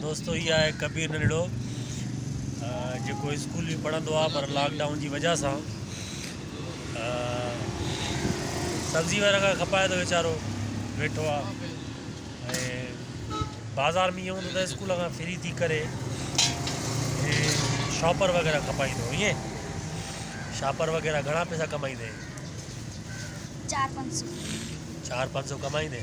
دوستو هي آهي ڪبير ننڙو جيڪو اسڪول به پڙهندو آهي پر لاڪ ڊائون جي وجه سان سبزي وغيره کان کپائي ٿو ويچارو ويٺو آهي بازار ۾ ائين هوندو ته اسڪول کان فري ٿي ڪري شاپر وغيره کپائيندو ائين شاپر وغيره گهڻا پيسا ڪمائيندي چار پنج سو چار پنج سو ڪمائيندي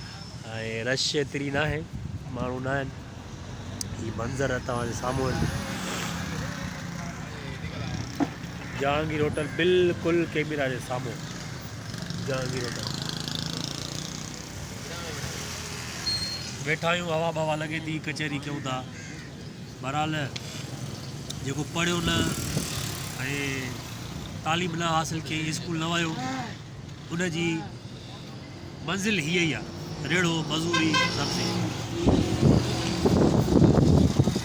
۽ رش ايتري ناهي ماڻهو ناهن هي منظر توهان جي سامهون آهن جهانگير هوٽل بلڪل ڪيميرا جي سامهون جهانگير هوٽل ويٺا آهيون هوا بوا لڳي ٿي ڪچهري ڪيون ٿا بهرحال جيڪو پڙهيو نه ۽ تعليم نه حاصل ڪيائين اسڪول نه ويو ان جي منزل هيء ئي آ، ريڙهو، مزوري، سبزي.